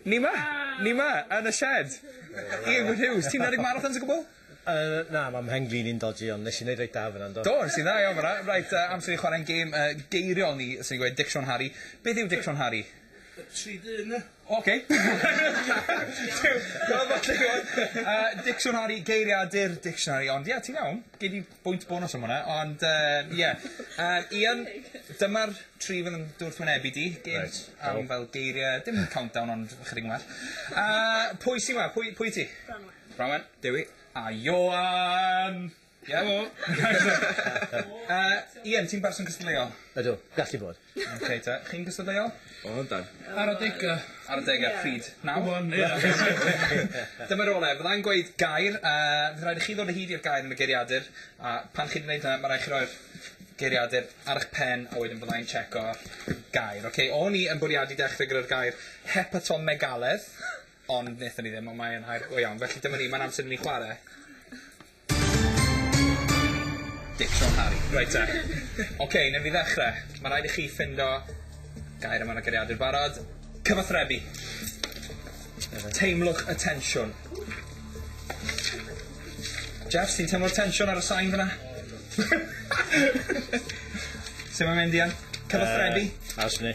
Ni ma! Ni ma! Yn y shed! Ian Gwyn Hughes, ti'n meddyg marathons o gwbl? Uh, na, mae mhen glin i'n dodgy, ond nes i wneud reit da fyna, ynddo? Do, nes i'n dda iawn fyna. Rhaid, uh, amser i chwarae'n gêm uh, geiriol ni, sy'n gweud Dic Sean Harry. Beth yw Dic Sean Harry? Tri dyn. Oce. Dic Sean Harry, geiriadur dictionary, ond ie, yeah, ti'n iawn. Gei di bwynt bonws am hwnna, ond yy ie. Yym Ian dyma'r tri fydd yn dy wrthwynebu di. Gêm... Reit. ...am fel geirie dim countdown ond ychydig yn well. Yy pwy sy 'ma? Pwy pwy ti? Branwen. Branwen. Dewi. A Ioan! Helo! Yy Ian ti'n berson cystadleuol? Ydw, gallu bod. Oce ta. Chi'n gystadleuol? O yndan. Ar adega. Ar adega pryd? Nawr? Rŵan ia. Dyma rolau. Fyddai'n gweud gair a fydd rhaid i chi ddod o hyd i'r gair yn y geiriadur a pan chi'n neud hynna ma' rai' chi roi'r geiriadur ar 'ych pen a wedyn fyddai'n tsieco gair. Oce o'n i yn bwriadu dechre gyda'r gair hepatomegaledd ond nethon ni ddim on' mae e'n air go iawn felly dyma ni ma'n amser i ni chware. Dic Sion Harri. Reit te. Oce, newn ni ddechre. Ma' raid i chi ffindo gair am yr agoriadur barod. Cyfathrebu. Teimlwch y tensiwn. Jeffs, ti'n teimlo'r tensiwn ar y sain fyna? Su' mae'n mynd Ian? Cyfathrebu? Yy, a's ni?